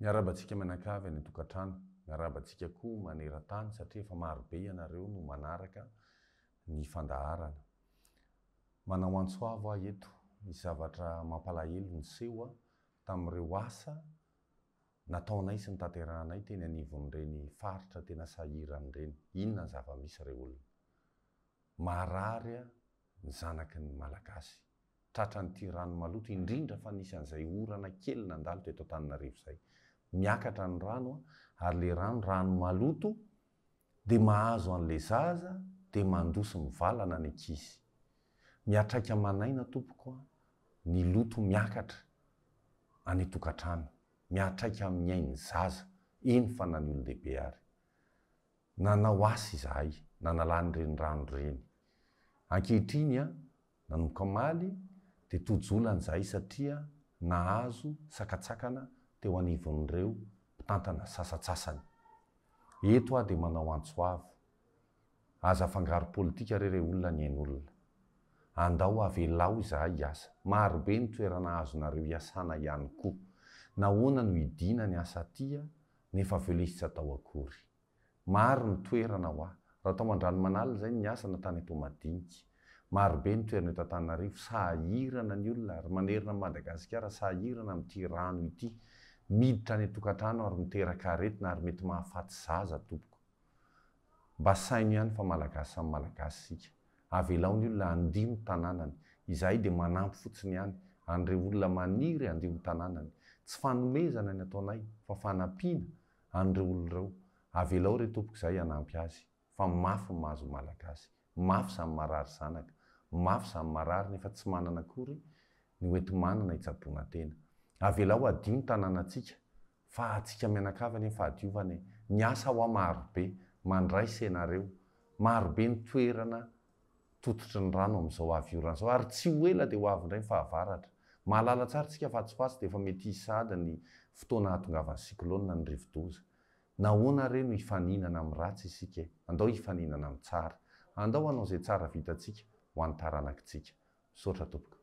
Miarahaba antsika mianakavy any an-tokantrano. Miarahaba antsika koa maneran-tany satria efa maro be ianareo no manaraka ny fandaharana. Manao antso avo aho eto, misy zavatra mampalahelo niseho tamin'ireo asa nataonay sy notanterahanay teny anivon'ireny faritra tena sahirana ireny. Inona ny zava-misy re olona? Marary ny zanaky ny Malagasy. tratran'ity rano maloto, indrindra fa nisy an'izay orana kely nandalo teto Antananarivo izay. Miakatra ny rano ary ilay rano, rano maloto dia mahazo an'ilay zaza dia mandoa sy mivalana ny ankizy. Miatraika aman'aina tompoko ny loto miakatra any an-tokantrano, miatraika amin'ny ain'ny zaza, eny fa na ny olon-dehibe ary. Nanao asa izahay, nanalà ny renirano ireny. Ankehitriny Nanomboka omaly dia toa jolany izahay satria nahazo sakantsakana teo anivon'ireo mpitantana sasantsasany. Eto aho dia manao antso avo, aza afangaro politika re re olona ny ain'olona. Andao avelao izahay hiasa. Marobe ny toerana azonareo iasana ihany koa. Nahoana no hidiana ny asa aty nefa velesy tsy atao akory. Maro ny toerana hoa. Raha tao Andranomanalina izay ny niasa na tany Toamadinika. Maro be ny toerana eto Antananarivo. Sahirana ny olona ary manerana an'i Madagasikara sahirana amin'ity rano ity. Miditra any an-tokantrano ary miteraka aretina ary mety mahafaty zaza tompoko. Mba saino ihany fa Malagasy samy Malagasy isika. Avelao ny olona handio ny tanànany. Izahay dia manampy fotsiny ihany an'ireo olona maniry handio ny tanànany. Tsy fanomezana ny ataonay fa fanampiana an'ireo olona ireo. Avelao re tompoko izahay hanampy azy fa mafy ny mahazo ny malagasy, mafy izany marary zanaka, mafy izany marary nefa tsy manana akory ny hoenti-manana hitsaboana tena. Avelao hadio ny tanànantsika fa antsika mianakavy anie ny fahadiovana e! Miasa hoa marobe, mandray isenareo, marobe ny toerana tototry ny rano amin'izao avy orana izao ary tsy ho ela dia ho avy indray ny fahavaratra. Mahalala tsara isika fa atsy-patsy dia efa mety hisy sahady ny fotoana hahatongavan'ny cyclone ny rivodoza. Nahoana re no hifaninana amin'ny ratsy isika e? Andao hifaninana amin'ny tsara. Andao hanao izay tsara vitantsika ho an'ny taranakitsika. Misaotra tompoko.